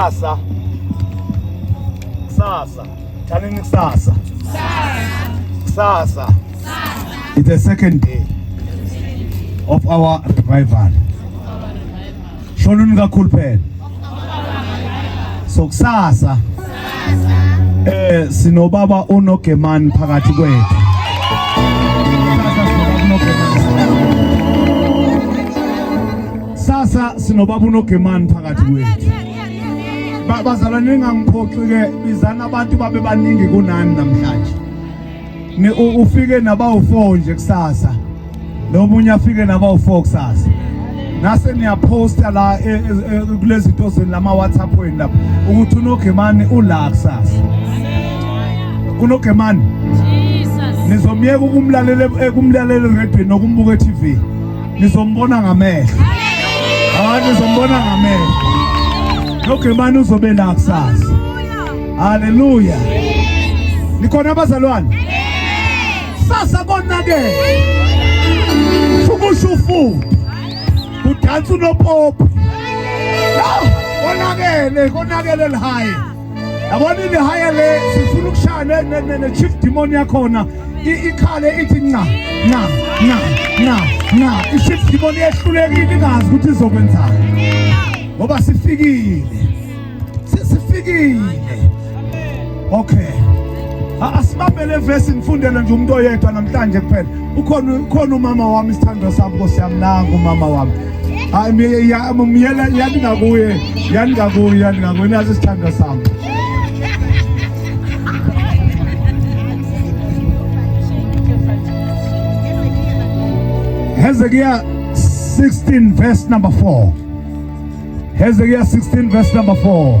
Kusasa. Kusasa. Thanini kusasa. Kusasa. It's the second day of our revival. Shonuni kakhulu phela. So kusasa. Eh sinobaba uNogemani phakathi kwethu. Sasa sinobaba uNogemani phakathi kwethu. Bazalwane ningangiphoxi-ke bizani abantu babe baningi kunani namhlanje. Ufike nabawu-four nje kusasa nomunye afike nabawu-four kusasa nase niyaphosta la e, e, e, kulezi zinto zenu lama-whatsapp wenu lapho ukuthi unogemani ula kusasa unogemani nizomyeka ukumlalela ekumlalela eredweni nokumbuka e-tv nizombona ngamehlo hayi nizombona ngamehlo nogemani uzobe la kusasa haleluya nikhona abazalwane sasa konakele fukusha ufudu kudansa unopopi konakele konakele lihaye yabona ilihaya le sifuna ukushaya ne-chief demon yakhona ikhale ithi nca nca nca nca nca i-chief demon yehlulekile ingazi ukuthi izokwenzani ngoba sifikile sifikile okay asibambele vesi ngifundele nje umuntu oyedwa namhlanje kuphela ukhona ukhona umama wami isithandwa sami nkosi yami nangu umama wami hayi myela yani ngakuye yani ngakuye yani ngakuye nazi isithandwa sami Hezekiah 16 verse number 4 Hezekiah 16 verse number 4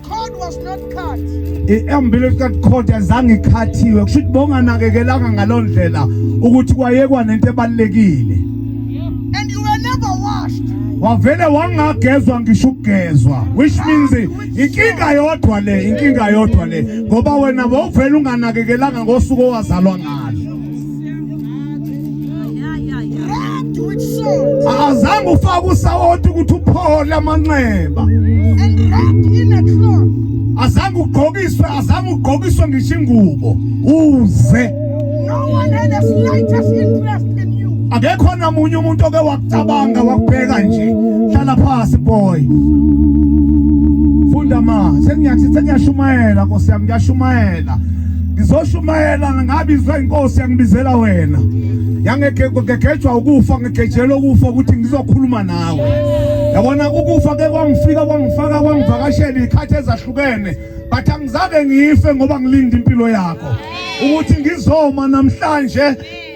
Cord was not cut. I-umbilical cut cord azange ikhathiwe kusho ukuthi bonganakekelanga ngaloo ndlela ukuthi kwayekwa nento ebalulekile And you were never washed. wavele wangagezwa ngisho ukugezwa which means inkinga yodwa le inkinga yodwa le ngoba wena wawuvele unganakekelanga ngosuku owazalwa ngalo azange ufake usawoti ukuthi uphole amanxeba azange ugqokiswe azange ugqokiswe ngisho ingubo uze akekho namunye umuntu oke wakucabanga wakubheka nje hlala phasi boy funda ma sengiyathi sengiyashumayela nkosi yami ngiyashumayela ngizoshumayela ngabizwa inkosi yangibizela wena yangegejwa ukufa ngegejelwe ukufa ukuthi ngizokhuluma nawe yabona ukufa ke kwangifika kwangifaka kwangivakashela ikhathi ezahlukene but angizake ngife ngoba ngilinde impilo yakho ukuthi ngizoma namhlanje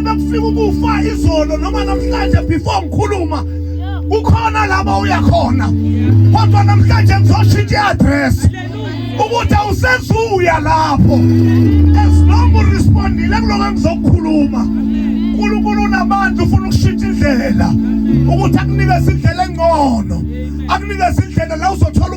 Nakufika ukufa izolo noma namhlanje before ngikhuluma ukhona laba uya khona kodwa namhlanje ngizoshintsha i-address ukuthi awusezuya lapho as long urespondile kuloko engizokukhuluma uNkulunkulu unabantu ufuna ukushintsha indlela ukuthi akunikeze indlela engcono akunikeze indlela la uzothola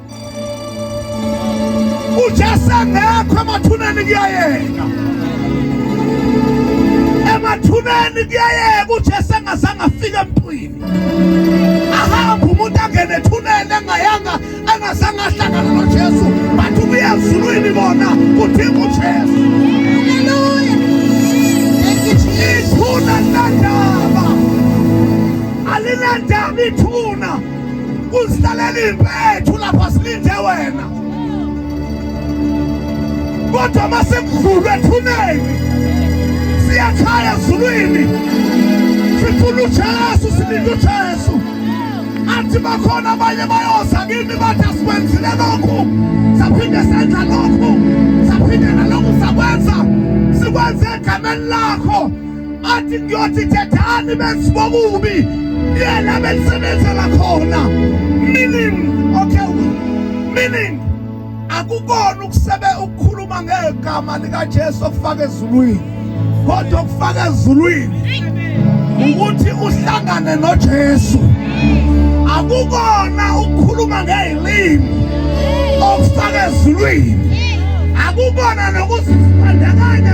uJesu engekho emathuneni kuyayeka emathuneni kuyayeka uJesu engazange afike emntwini ahambe umuntu angene ethuneni engayanga engazange ahlangana noJesu bathi ubuye ezulwini bona kudinga uJesu ithuna linandaba alinandaba ithuna uzilalela impethu lapha silinde wena kodwa uma sekudlulwe ethuneni siyakhaya ezulwini sifuna ujesu silinde ujesu athi bakhona abanye bayoza kimi bathi asikwenzile lokhu saphinde senza lokhu saphinde nalokhu sakwenza sikwenze egameni lakho athi ngiyothi thethani besibokubi yena belisebenzela khona meaning okay meaning akukona ukusebe ukukhuluma ngegama likaJesu okufaka ezulwini kodwa okufaka ezulwini ukuthi uhlangane noJesu akukona ukukhuluma ngezilimi okufaka ezulwini akukona nokuzibandakanya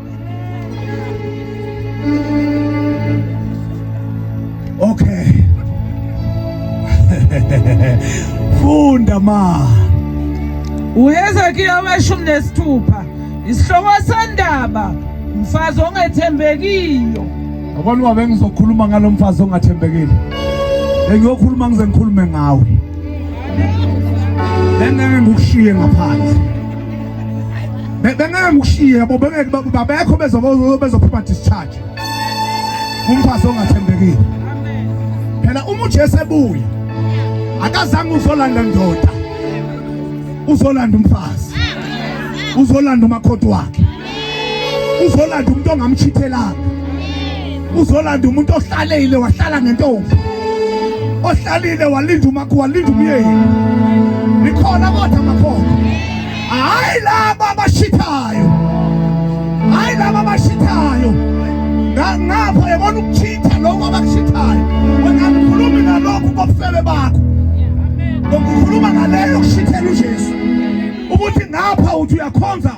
Okay. Funda ma. UHezekiya weshumi nesithupha isihloko sendaba mfazi ongethembekiyo. Yabona wabe ngizokhuluma ngalomfazi ongathembekile. Engiyokhuluma ngize ngikhulume ngawe. Lengeke ngikushiye ngaphandle. bengeke ngikushiye yabo bengeke babekho bezophuma discharge umfazi ongathembekile phela uma uJesu ebuya akazange uzolanda ndoda uzolanda umfazi uzolanda umakhothi wakhe uzolanda umuntu ongamchithelanga uzolanda umuntu ohlalile wahlala ngentombi ohlalile walinda umakho walinda umyeni nikhona kodwa makhona hayi laba abashithayo hayi laba abashithayo ngapha yabona ukuchitha lokho abakuchithayo wena ngikhulumi nalokhu kobufebe bakho ngokukhuluma ngaleyo kushithela uJesu ukuthi ngapha uthi uyakhonza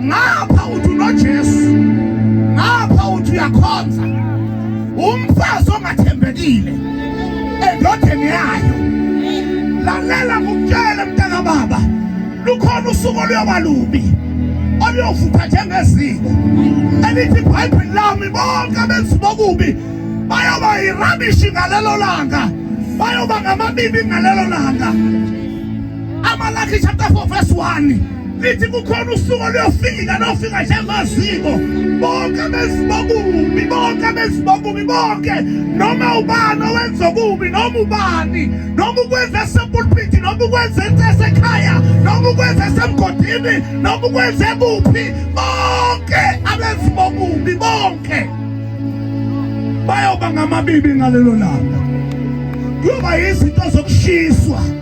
ngapha uthi unojesu ngapha uthi uyakhonza umfazi ongathembekile endodeni yayo lalela ngukutshele mntana baba lukhona usuku oluyoba lubi oluyovutha njengeziko elithi ibhayibheli lami bonke abenzi bokubi bayoba yirabishi ngalelo langa bayoba ngamabibi ngalelo langa Amalaki chapter 4 verse 1 lithi kukhona usuku oluyofika lofika njengoziko bonke abezibokubi bonke abezibokubi bonke noma ubani owenza okubi noma ubani noma ukwenza esepulpiti noma ukwenza esekhaya noma ukwenza esemgodini noma ukwenza ekuphi bonke abezibokubi bonke bayoba ngamabibi ngalelo langa kuyoba yizinto zokushiswa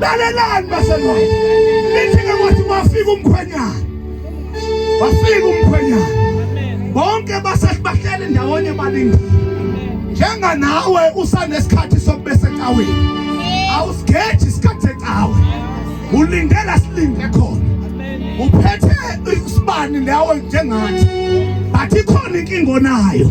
Lalelani baselwa. Lithi ke kwathi wafika umkhwenyana. Wafika umkhwenyana. Bonke basehleli ndawonye balindile. Njenga nawe usanesikhathi sokube secaweni. Awusigeji isikhathi secawe. Ulindela silinde khona. Uphethe isibani lawe njengathi. Bathi khona inkingo nayo.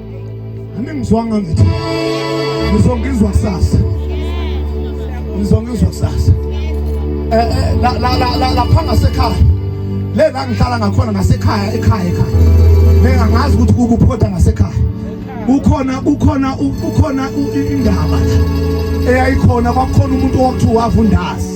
Aningizwanga ngithi. Ngizongizwa kusasa. Ngizongizwa kusasa. Eh eh la la la la lapha ngasekhaya. Le la ngihlala ngakhona ngasekhaya ekhaya ekhaya. Mina ngazi ukuthi kukuphoda ngasekhaya. Ukhona ukhona ukhona indaba eyayikhona kwakukhona umuntu owakuthiwa wavundazi.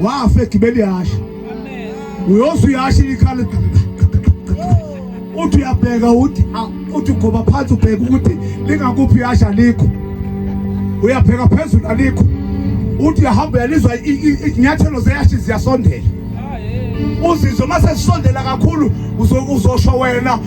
wafa egibela ihashe uyoze uyashe ikhala uthi uyabheka uthi uthi ugoba phansi ubheka ukuthi lingakuphi ihashe alikho uyapheka phezulu alikho uthi uyahamba uyalizwa izinyathelo zeyashe ziyasondela uzizwe uma sesisondela kakhulu uzosho wena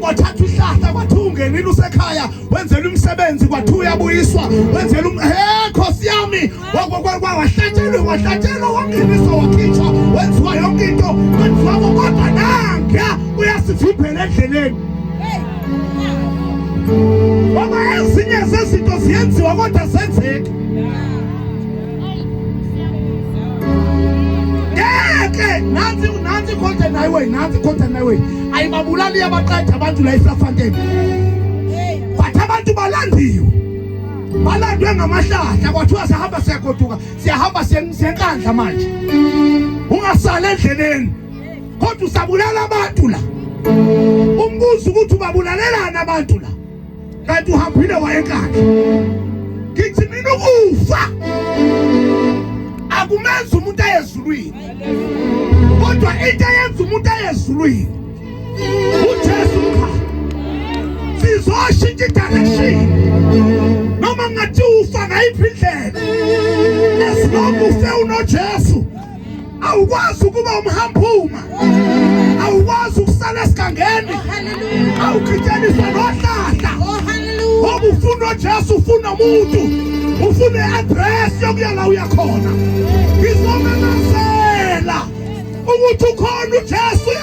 kwathatha ihlahla kwathi ungenile usekhaya wenzela umsebenzi kwathi uyabuyiswa wenzela um he khosi yami wahlatshelwe wahlatshelwa wangeniswa wakhitshwa wenziwa yonke into kwenziwa kodwa nangiya uyasivimbela endleleni ngoba ezinye zezinto ziyenziwa kodwa zenzeki ngeke nansi nansi content highway nansi content highway ayibabulali yabaqeda abantu la eSafanteni but abantu balandiwe balandwe ngamahlahla kwathiwa sihamba siyagoduka siyahamba siyenkandla manje ungasali endleleni kodwa usabulala abantu la umbuzo ukuthi ubabulalelani abantu la kanti uhambile wayenkakhe ngithi mina ukufa akumenza umuntu ayezulwini kodwa into eyenza umuntu ayezulwini uJesu cha sizoshintsha direction noma ngathi ufa ngayiphi indlela as long ufe unoJesu awukwazi ukuba umhamphuma awukwazi ukusala esigangeni awukhityaniswa nohlahla oh, ngoba ufuna ujesu ufuna umuntu ufuna i-adress yokuya la uya khona ngizomemezela ukuthi ukhona ujesu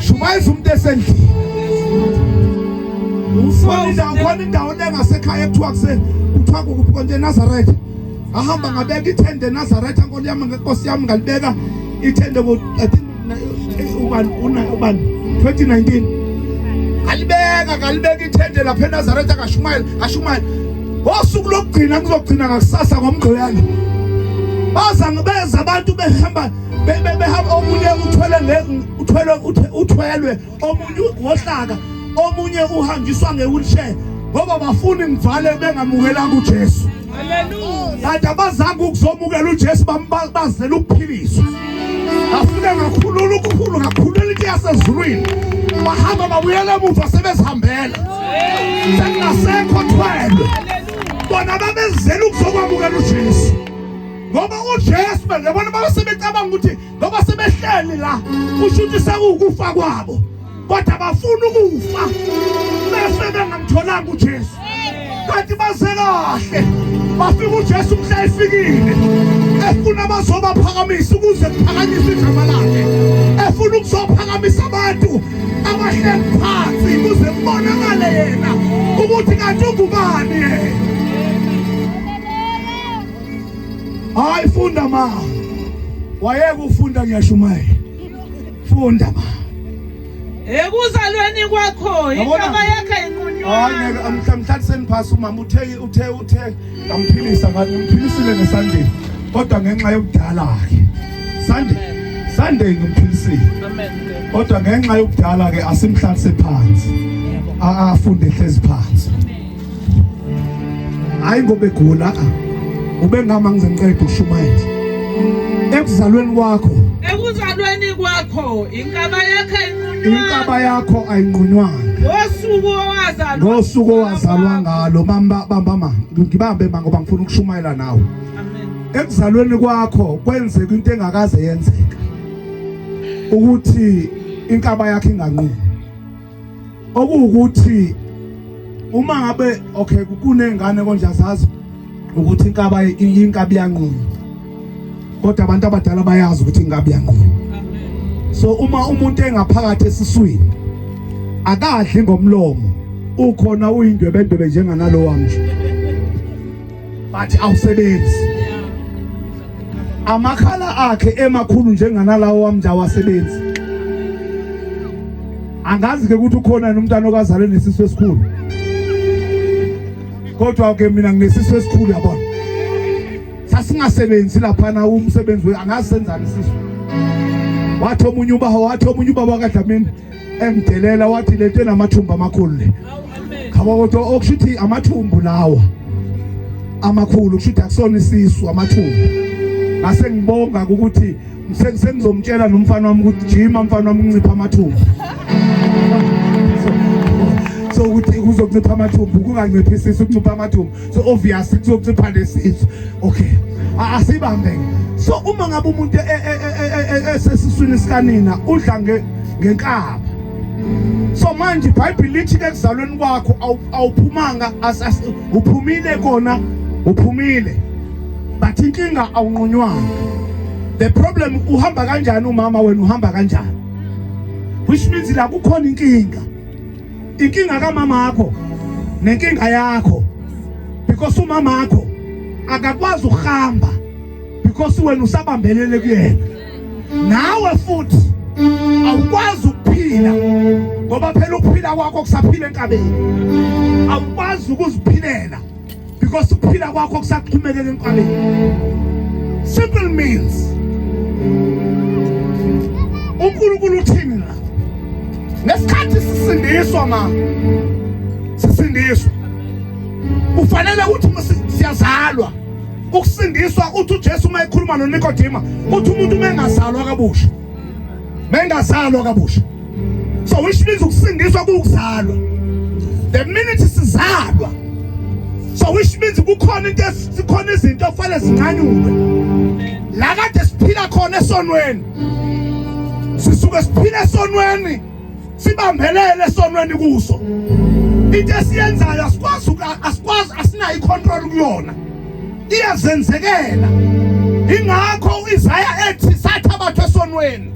shumayisa umuntu esendlini ufona indawo khona indawo engasekhaya ekuthiwa kuse kuthiwa kukuphi konje enazaretha ahamba ngabeka ithende enazaretha nkolo yami ngenkosi yami ngalibeka ithende ubani ubani 2019 kalibeka kalibeka ithende lapha eNazaretha kashumayela kashumayela ngosuku lokugcina kuzogcina ngakusasa ngomgqibelo baza beza abantu behamba bebe behamba omunye uthwele nge uthwele uthwelwe omunye wohlaka omunye uhanjiswa ngewheelchair ngoba bafuni ngivale bengamukelanga uJesu haleluya kanti abazange ukuzomukela uJesu bambazela ukuphiliswa afune ngakhulula ukukhulu ngakhulula into yasezulwini bahamba babuyela emuva sebezihambela sengasekho thwelwe bona babezela ukuzokwamukela uJesu ngoba uJesu yabona baba sebecabanga ukuthi ngoba sebehleli la kusho ukuthi sekuwukufa kwabo kodwa bafuna ukufa bese bengamtholanga uJesu kanti baze kahle bafika uJesu mhla efikile efuna bazobaphakamisa ukuze kuphakanyiswe igama lakhe efuna ukuzophakamisa abantu abahleli phansi kuze kubonakale yena ukuthi kanti ungubani yena Hayi funda ma. Wayeka ufunda ngiyashumayela. Funda ma. Ekuzalweni kwakho inhlaba yakhe inqunywa. Hayi amhlamhlanje seniphasa umama uthe uthe uthe ngamphilisa ngathi ngimphilise ngesandeni. Kodwa ngenxa yokudala ke. Sande Sande ngimphilise. Amen. Kodwa ngenxa yokudala ke asimhlalise phansi. Yebo. Afunde hlezi phansi. hayi ngoba egula ah. ubengama ngize ngiqede ukushumayela ekuzalweni kwakho ekuzalweni kwakho inkaba yakhe inkaba yakho ayinqunywanga ngosuku owazalwa ngosuku owazalwa ngalo bamba bamba ma ngibambe ma ngoba ngifuna ukushumayela nawe ekuzalweni kwakho kwenzeka into engakaze yenzeka ukuthi inkaba yakhe inganqumi okuwukuthi uma ngabe okay kunengane konje azazi ukuthi inkaba inkabi yanqunywa kodwa abantu abadala bayazi ukuthi inkabi yanqunywa so uma umuntu engaphakathi esiswini akadli ngomlomo ukhona uyindwebendwebe njenganalowa mnje but awusebenzi amakhala akhe emakhulu njenganalawo wami nje awasebenzi angazi ke ukuthi ukhona nomntana okazalwe nesisu esikhulu kodwa ke mina nginesisu esikhulu yabona sasingasebenzi lapha na umsebenzi angazi senzani isisu wathi omunye ubaho wathi omunye ubaba kaDlamini engidelela wathi lento enamathumbu amakhulu le khaba kodwa okusho ukuthi amathumbu lawa amakhulu kusho ukuthi akusona isisu amathumbu ngase ngibonga ukuthi sengizomtshela nomfana wami ukuthi jima mfana wami uncipha amathumbu so ukuthi kuzoncipha amathumbu kunganciphisisi ukuncipha amathumbu so obvious kuzoncipha lesisu okay asibambe so uma ngabe umuntu esesiswini sikanina udla ngenkaba so manje ibhayibhile lithi ke kuzalweni kwakho awuphumanga uphumile kona uphumile but inkinga awunqunywanga the problem uhamba kanjani umama wena uhamba kanjani which means la kukhona inkinga inkinga kamama wakho nenkinga yakho because umama wakho akakwazi ukuhamba because wena usabambelele kuyena nawe futhi awukwazi ukuphila ngoba phela ukuphila kwakho kusaphila enkabeni awukwazi ukuziphilela because ukuphila kwakho kusaxhumekele enkabeni simple means uNkulunkulu uthini la ngesikhathi sisindiswa ma sisindiswa kufanele ukuthi siyazalwa ukusindiswa uthi uJesu uma ekhuluma noNikodima uthi umuntu uma engazalwa kabusha mengazalwa kabusha so which means ukusindiswa kuwukuzalwa the minute sizalwa so which means kukhona into esikhona izinto okufanele zinqanyulwe la kade siphila khona esonweni sisuke siphila esonweni sibambelele esonweni kuso into esiyenzayo asikwazi asikwazi asinayo icontrol kuyona iyazenzekela ingakho uIsaya ethi satha abantu esonweni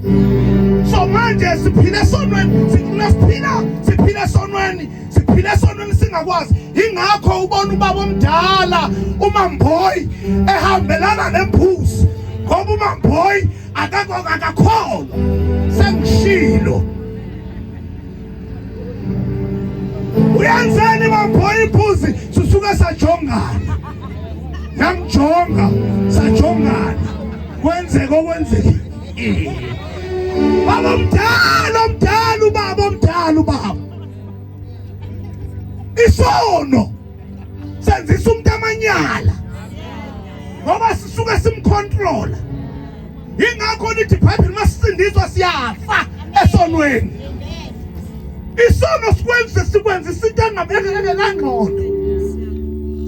so manje siphile esonweni sikhula siphila siphile esonweni siphile esonweni singakwazi ingakho ubona ubaba omdala umamboyi ehambelana nembuzi ngoba umamboyi akakho akakholwa sengishilo uyenzeni baphola iphuzi susuke sajongana namjonga sajongana kwenzeka okwenzekile baba omdala omdala ubaba omdala ubaba isono senzisa umuntu amanyala ngoba sisuke simcontrola ingakho lithi ibhayibheli masisindiswa siyafa esonweni isono sikwenze sikwenze isinto engabekelangqondo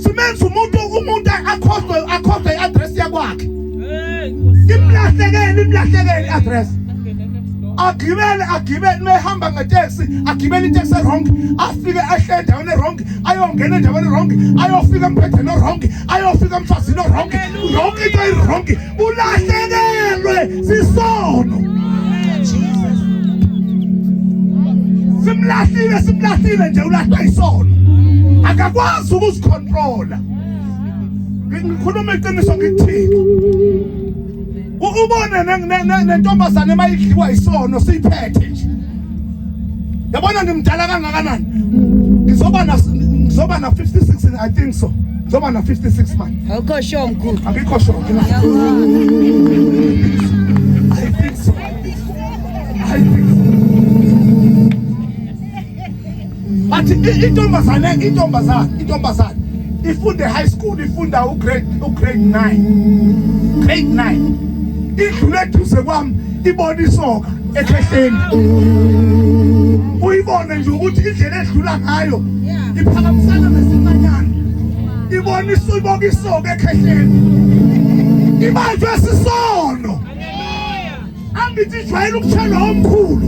simenza umuntu umuntu akhohlwe akhohlwe i-address yakwakhe imlahlekele imlahlekele address agibele agibele mehamba ngeteksi agibele iteksi erong afike ahle endaweni erong ayongena endaweni erong ayofika empetheni orong ayofika emfazini orong yonke into irong ulahlekelwe sisono simlahlile simlahlile nje ulahlwa isono akakwazi ukuzikhontrola ngikhuluma iqiniso ngikuthini ubone nentombazane emayidliwa isono siyiphethe nje yabona ngimdala kangakanani ngizoba na ngizoba na 56 i think so ngizoba na 56 manje awukho sure mkhulu akikho sure but intombazane intombazane intombazane ifunde high school ifunda ugrade ugrade 9 grade 9 idlule duze kwami ibona isoka ekhehleni uyibone nje ukuthi indlela edlula ngayo iphakamisana nesimanyana ibona isiboka isoka ekhehleni ibanjwe sisono angithi ijwayele ukuthelwa omkhulu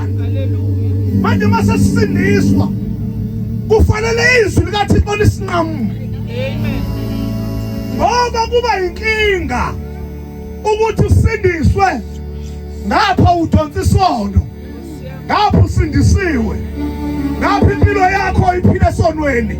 manje uma sesisindiswa kufanele izwi likathixo lisinqamule ngoba kuba yinkinga ukuthi usindiswe ngapha udonsa isono ngapha usindisiwe ngapha impilo yakho iphile esonweni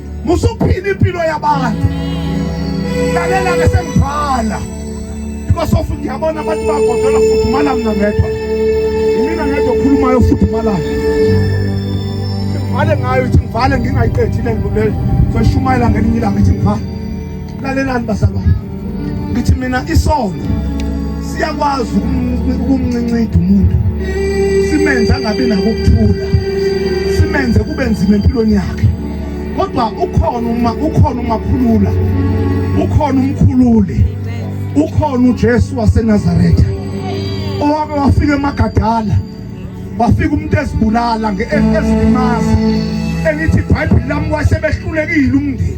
musuphila impilo yabantu lalela ke sengivala because of ngiyabona abantu bagodola futhi mala mina ngedwa imina ngedwa okhulumayo futhi mala ngivale ngayo ithi ngivale ngingayiqedile ngibulele seshumayela ngelinye ilanga ithi ngivale lalelani bazalwane ngithi mina isono siyakwazi ukumncincida umuntu simenze angabi nakukuthula simenze kube nzima empilweni yakhe kodwa ukhona uma ukhona umakhulula ukhona umkhululi ukhona uJesu waseNazaretha owake wafika emagadala wafika umuntu ezibulala ngeesimazi elithi ibhayibheli lami wasebehlulekile umndeni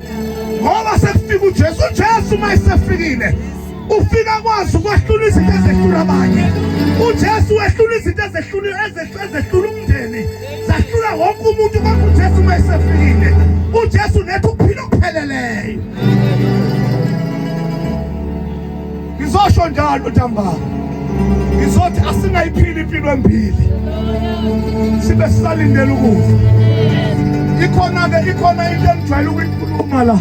ngoba sekufika uJesu uJesu uma esefikile ufika kwazi ukwahlula izinto ezehlula abanye uJesu wehlula izinto ezehlula ezehlula umndeni zahlula wonke umuntu kodwa uJesu uma esefikile uJesu nethu upheleleyo Ngizosho njalo ntambama. Ngizothi asingayiphili impilo embili. Sibe sisalindele ukufa. Ikhona ke ikhona into engijwayele ukuyikhuluma la.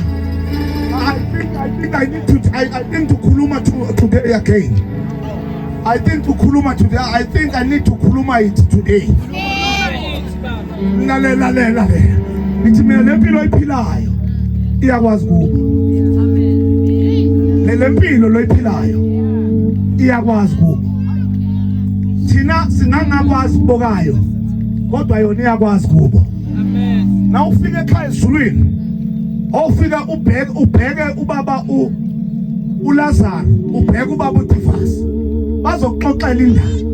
I think I think I need to I, I think to khuluma to, today again. I think to khuluma today. I think I need to khuluma it today. Yeah. lalela lalela ngithi mina le mpilo oyiphilayo iyakwazi kuba le mpilo loyiphilayo iyakwazi kuba thina singangakwazi kubokayo kodwa yona iyakwazi kubo amen na ufike ekhaya ezulwini ofika ubheke ubheke ubaba u uLazaro ubheke ubaba uDivasi bazokuxoxela indaba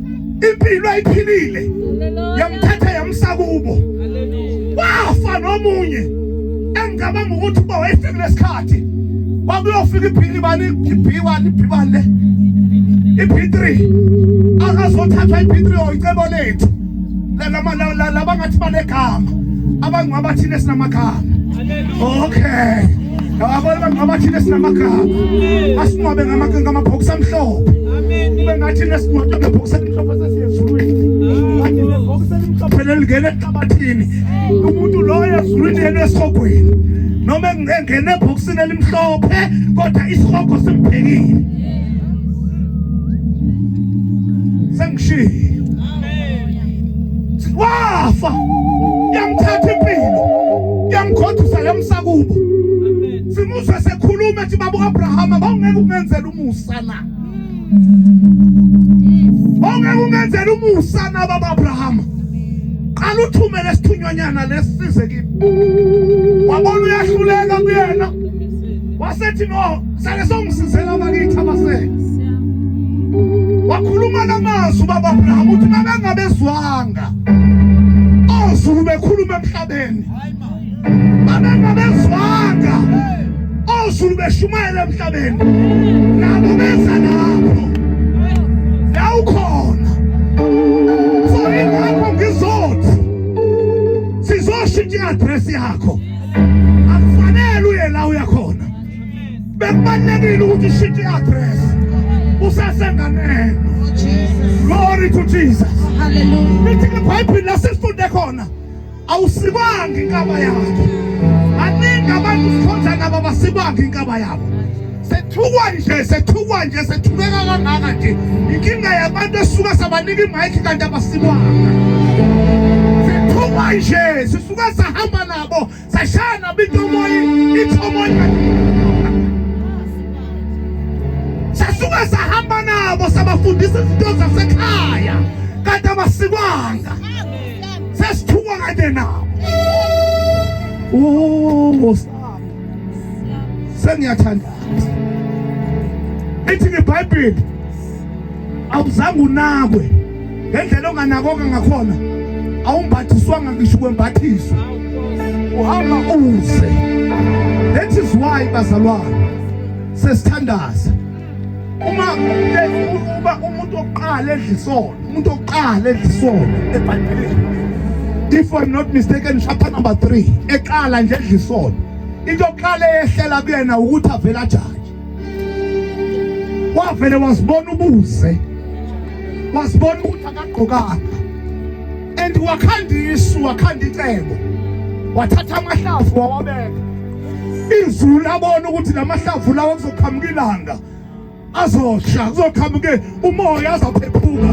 impilo ayiphilile yamthatha yamsa kubo wafa nomunye engicabanga ukuthi uba wayefike lesikhathi kwakuyofika ibhili bani ibhiwani ibhiwani le i-b3 akazothathwa i-b3 oyicebo lethu labangathi banegama abangcwaba thina sinamagama okay Ngababona bangcwaba thina sinamagama. Asingcwabe ngamabhokisi amhlophe. Kube ngathi nesingcwabe ngebhokisi elimhlophe sasiyezulwini. Kanti nebhokisi elimhlophe lelingena ehlabathini. Umuntu loyo ezulwini yena esihogweni. Noma engena ebhokisini elimhlophe kodwa isihogo simbhekile. Sengishilo. wafa yamthatha impilo yamgodusa yamsakubo simuzwe sekhuluma ethi babu Abrahama bawungeke ungenzela umusa na bawungeke ungenzela umusa na baba Abrahama qala uthumele isithunyonyana lesize kimi wabona uyahluleka kuyena wasethi no Sake songisizela bakithi abasele. Wakhuluma namazwi baba Abraham uthi babengabezwanga. Ozulu bekhuluma emhlabeni. Babengabezwanga. Ozulu beshumayela emhlabeni. Nabo benza lapho. La ukhona. So ingakho ngizothi sizoshintsha i-address yakho. bekubalulekile ukuthi ushintshe i-address usesenganeno glory to jesus lithi ibhayibhile lasisifunde khona awusibangi inkaba yakhe baningi abantu sikhonza nabo abasibangi inkaba yabo sethukwa nje sethukwa nje sethukeka kangaka nje inkinga yabantu esuka sabanika imayikhi kanti abasibanga sethukwa nje sisuka sahamba nabo Sashana bithi umoya ithi umoya. Sasuke sahamba nabo sabafundisa izinto zasekhaya kanti abasikwanga. Sesithuka kade nabo. Oh, sengiyathanda. Ithi ngebhayibheli awuzange unakwe ngendlela onganakoka ngakhona awumbathiswanga ngisho ukwembathiswa uhamba uze that is why bazalwane sesithandaza uma uba umuntu oqala edla isono umuntu oqala edla isono ebhayibhelini if i'm not mistaken chapter number 3 eqala nje edla isono into oqala ehlela kuyena ukuthi avela njani wavele wasibona ubuze wasibona ukuthi akagqokanga and wakhanda isu wakhanda icebo wathatha amahlavu wawabeka izulu labona ukuthi lamahlavu lawo kuzoqhamuka ilanga azosha kuzoqhamuke umoya azaphephuka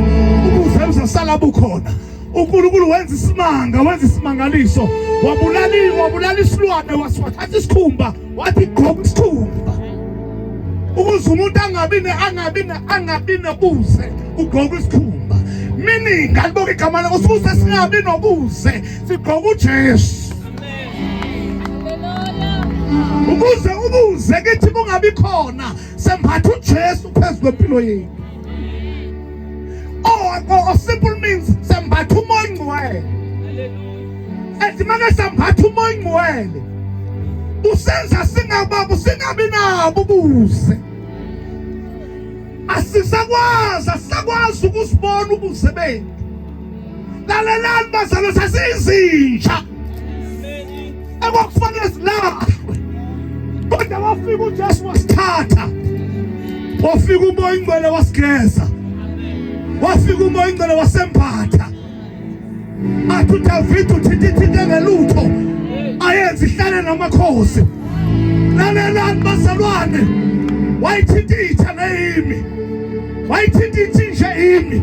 ubuze uzosala bukhona uNkulunkulu wenza isimanga wenza isimangaliso wabulala wabulala isilwane wasiwathatha isikhumba wathi gqoka isikhumba ukuze umuntu angabi ne angabi ne angabi nobuze ugqoka isikhumba meaning ngaliboka igama lakho sikuze singabi nobuze sigqoka uJesu ukuze ubuze kithi bungabi khona sembatha uJesu phezu kwempilo yethu or simple means sambatha umoya ingcwele ethi make sambatha umoya ingcwele usenza singababo singabi nabo ubuze asisakwazi asisakwazi ukuzibona ubuze bethu lalelani bazalwa sasiyizinja ekwakufanele zilahlwe kodwa wafika uJesu wasithatha wafika umoya ingcwele wasigeza wafika umoya ingcwele wasembatha athi uDavide uthintithinte ngelutho ayenze ihlale namakhosi lalelani bazalwane wayithinta itha neyimi wayithinta ithinje imi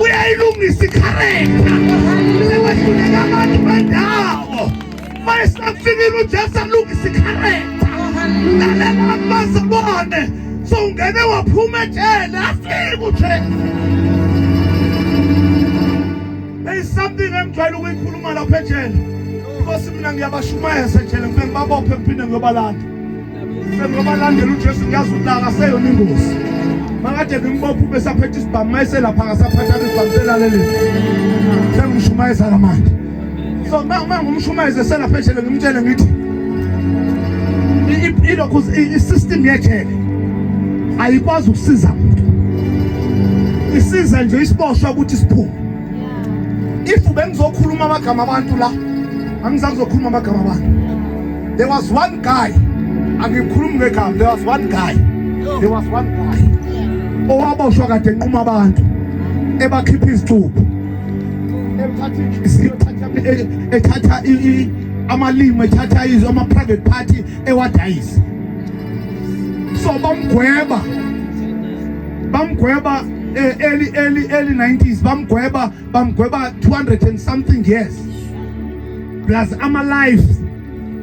uyayilungisa ikharenta sewehluleka abantu bendawo mayesafikile ujesu alungisa ikharenta lalela abantu bazibone sowungene waphuma ejele afike ujesu There is something engijwayele ukuyikhuluma lapha ejele. Inkosi mina ngiyabashumayeza ejele ngifike ngibabophe ngiphinde ngiyobalanda. Sengoba landela uJesu ngiyazi ukuthi akaseyona ingozi. Makade ngimbopha ube saphetha isibhamu mayeselapha ngasaphatha isibhamu selalele. Sengishumayeza kamanje. So uma ngumshumayeza eselapha ejele ngimtshele ngithi ilokhu i-system yejele ayikwazi ukusiza muntu. Isiza nje isiboshwa ukuthi siphume. If bengizokhuluma amagama abantu la, angizakuzokhuluma amagama abantu. There was one guy angikhulumi ngegama there was one guy there was one guy owaboshwa kade enquma abantu ebakhipha izicubu ethatha amalimi ethatha izwe ama-private party ewadayisa so bamgweba bamgweba eh, early early early 90s bamgweba bamgweba 200 and something years plus ama lives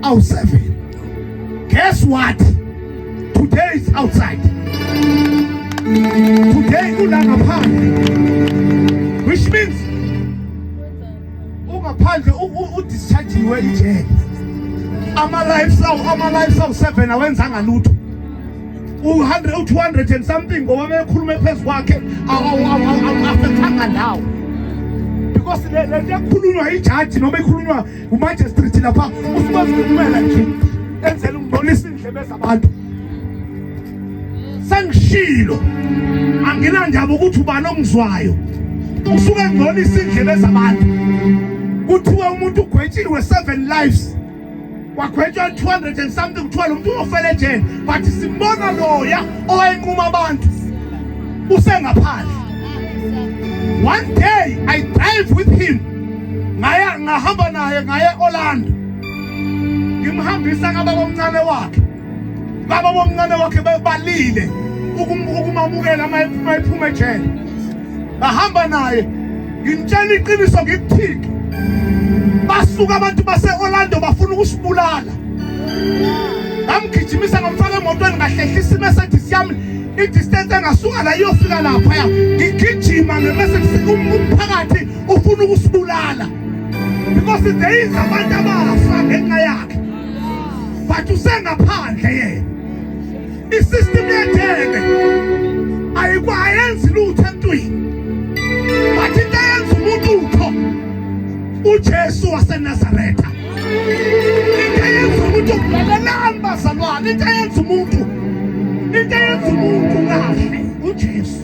awu seven guess what today is outside today ula ngaphandle which means ungaphandle udischargiwe ijele ama lives awu ama lives awu seven awenzanga lutho u-200 and something ngoba bekhuluma phezu kwakhe awafethanga ndawo because le nto ekhulunywa ijaji noma ekhulunywa umajistrate lapha usikwazi ukumela nje enzela ukungcolisa iindlebe zabantu sengishilo anginandaba ukuthi ubani ongizwayo usuke ngcolisa iindlebe zabantu kuthiwa umuntu ugwetshiwe seven lives wagwetywa 200 and something kuthiwa lo mntu ufele ejele but simbona loya owayenquma abantu usengaphandle one day i drive with him ngaya ngahamba naye ngaye orlando ngimhambisa ngababa omncane wakhe baba bomncane wakhe bebalile ukumamukela uma ephuma ejele bahamba naye ngimtshela iqiniso ngikuthike basuka abantu base-orlando bafuna ukusibulala ngamgijimisa ngamfaka emotweni ngahlehlisa imercedes yami idistance engasuka la iyofika laphaya ngigijima ngemercedes umphakathi ufuna ukusibulala because there is abantu abafa ngenxa yakhe but usengaphandle yena isystem yethebe ayikwayenzi lutho entwini but into eyenza umuntu utho uJesu waseNazaretha into eyenza umuntu nani bazalwane into eyenza umuntu into eyenza umuntu kahle uJesu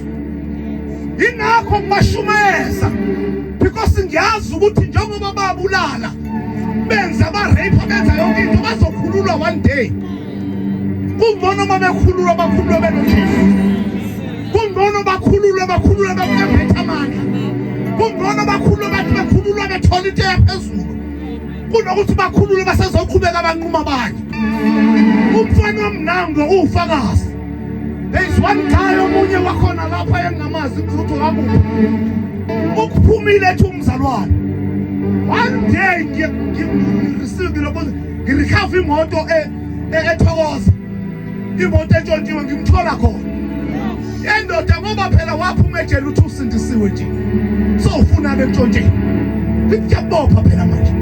ingakho ngimashumayeza because ngiyazi ukuthi njengoba babulala benza ba-rape benza yonke into bazokhululwa one day kungcono uma bekhululwa bakhululwe benojesu kungcono bakhululwe bakhululwe baphethe amandla kungcono bakhululwe bathi bekhululwa bethole into yaphezulu kunokuthi bakhululwe basezoqhubeka abanquma bakhe umfana omnango uwufakazi There is one guy omunye wakhona lapha engingamazi ukuthi wakuphi. Ukuphumile ethi umzalwane. One day ngiye ngirisiki lokho ngirikhava imoto e, e, ethokoza. Imoto entshontshiwe ngimthola khona. Yendoda ngoba phela waphuma ejele uthi usindisiwe nje. So ufuna bekutshontshe. Ngikuyabopha phela manje.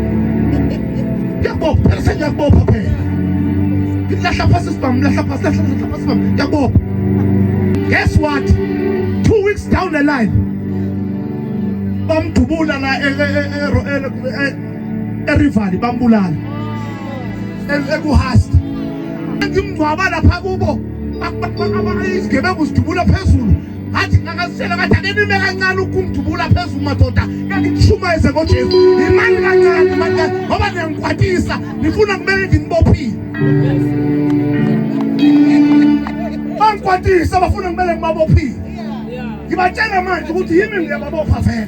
Ngiyakubopha, phela sengiyakubopha phela. Ngilahla phasi sibhamu, lahla phasi, lahla lahla phasi sibhamu. Ngiyakubopha. Guess what? Two weeks down the line. Bamdubula la e- e- e- e- e- erivali bambulala. E- Ekuhast. Ngimngcwaba lapha kubo. Isigebengu sidubula phezulu. ngathi ngakazitshela ngathi ake nime kancane ukumdubula phezulu madoda kanti nishumayeze ngojesu yimani kancane manje ngoba niyangikwatisa nifuna kumele nginibophile bangikwatisa bafuna kumele ngibabophile ngibatshela manje ukuthi yimi ngiyababopha vele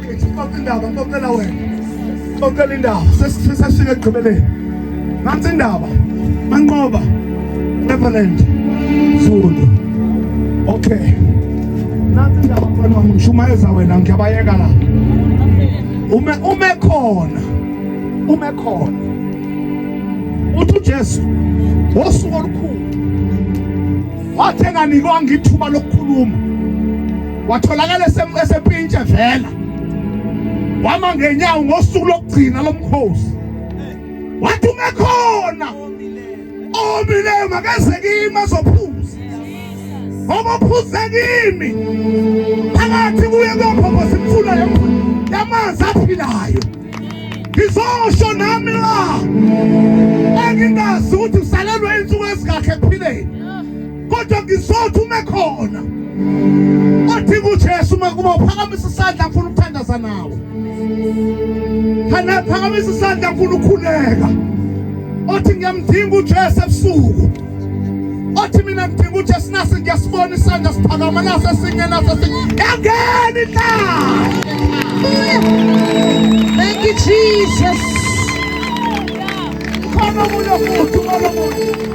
Ngixoxa indaba ngixoxela wena. Ngixoxela indaba sesifika ekugqibeleni. Nansi indaba. Manqoba. Neverland. Zulu. Okay. Nansi indaba mfana wami ngishumayeza wena ngiyabayeka la. Ume ume khona. Ume khona. Uthi uJesu wosuku olukhulu wathi enganikwanga ithuba lokukhuluma watholakala esepintshe vela wama ngenyawo ngosuku lokugcina lomkhosi wathi ungekhona omileyo makeze kimi azophuza ngoba uphuze kimi phakathi kuye kophopho simfuna yamanzi aphilayo ngizosho nami la engingazi ukuthi usalelwe insuku ezingakhe ekuphileni kodwa ngizothi ume khona odinga uJesu uma kuba uphakamisa isandla ngifuna ukuthandaza nawe khana phakamisa isandla ngifuna ukukhuleka othi ngiyamdinga uJesu ebusuku othi mina ngidinga uJesu nase ngiyasibona isandla siphakama nase singe nase yangeni la Thank you Jesus. Khona umuntu omuntu, khona umuntu.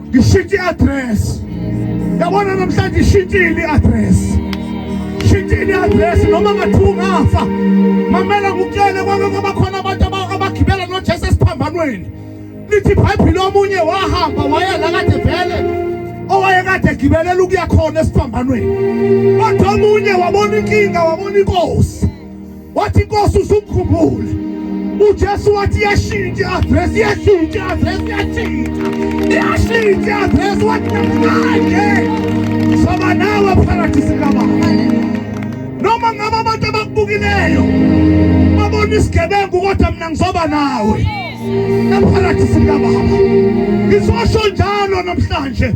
Ngishintshe i-address. Yabona namhlanje ishintshile i-address. Shintshile i-address noma ngathi ungafa. Mamela ngikutshele kwake kwaba khona abantu abagibela noJesu esiphambanweni. Lithi iBhayibheli omunye wahamba waya la kade vele owayekade egibelela ukuya khona esiphambanweni. Kodwa omunye wabona inkinga wabona inkosi. wathi Nkosi usukhumbule uJesu wathi yashintsha address yashintsha address yashintsha yashintsha address wathi manje soba nawe paradise kababa noma ngabe abantu abakubukileyo babona isigebengu kodwa mina ngizoba nawe eparadise kababa ngizosho njalo namhlanje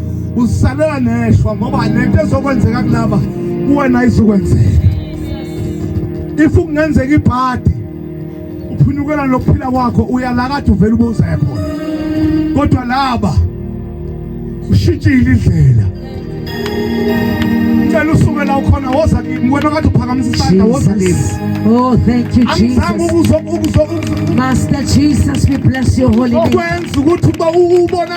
uzisalela neshwa ngoba lento ezokwenzeka kulaba kuwena izokwenzeka if kungenzeka ibhadi uphunyukela lokuphila kwakho uyalakade uvela ubuza khona kodwa laba ushintshile indlela ngicela usuke la ukhona woza kimi wena kade uphakamisa isandla woza kimi oh thank you jesus angizange ukuzo ukuzo master jesus we bless your holy name okwenza ukuthi uba ubona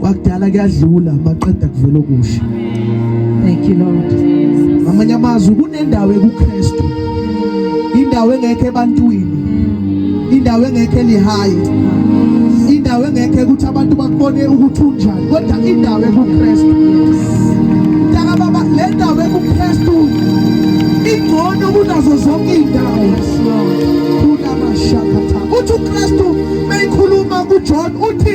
kwakudala kuyadlula maqeda kuvela okusha thank you lord amanye amazwi kunendawo ekuKristu indawo engekho ebantwini indawo engekho elihayi indawo engekho ukuthi abantu bakubone ukuthi unjani kodwa indawo ekuKristu ntaka baba le ndawo ekuKristu ingcono kunazo zonke izindawo kunamashakatha uthi uKristu meyikhuluma kuJohn uthi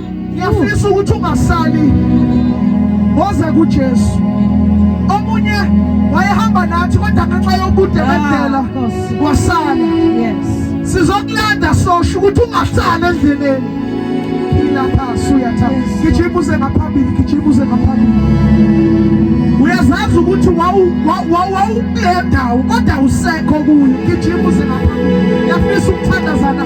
ngiyafisa ukuthi ungasali woze kuJesu omunye wayehamba nathi kodwa ngenxa yobude ah, bendlela wasala yes sizokulanda sosho ukuthi ungasali endleleni phila phasi uyathanda gijima uze ngaphambili gijima uze ngaphambili uyazazi ukuthi wawukulendawo kodwa usekho kuyo gijima uze ngaphambili yafisa ukuthandazana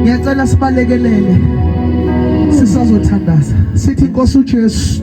Ngiyacela sibalekelele sisazothandaza sithi Nkosi uJesu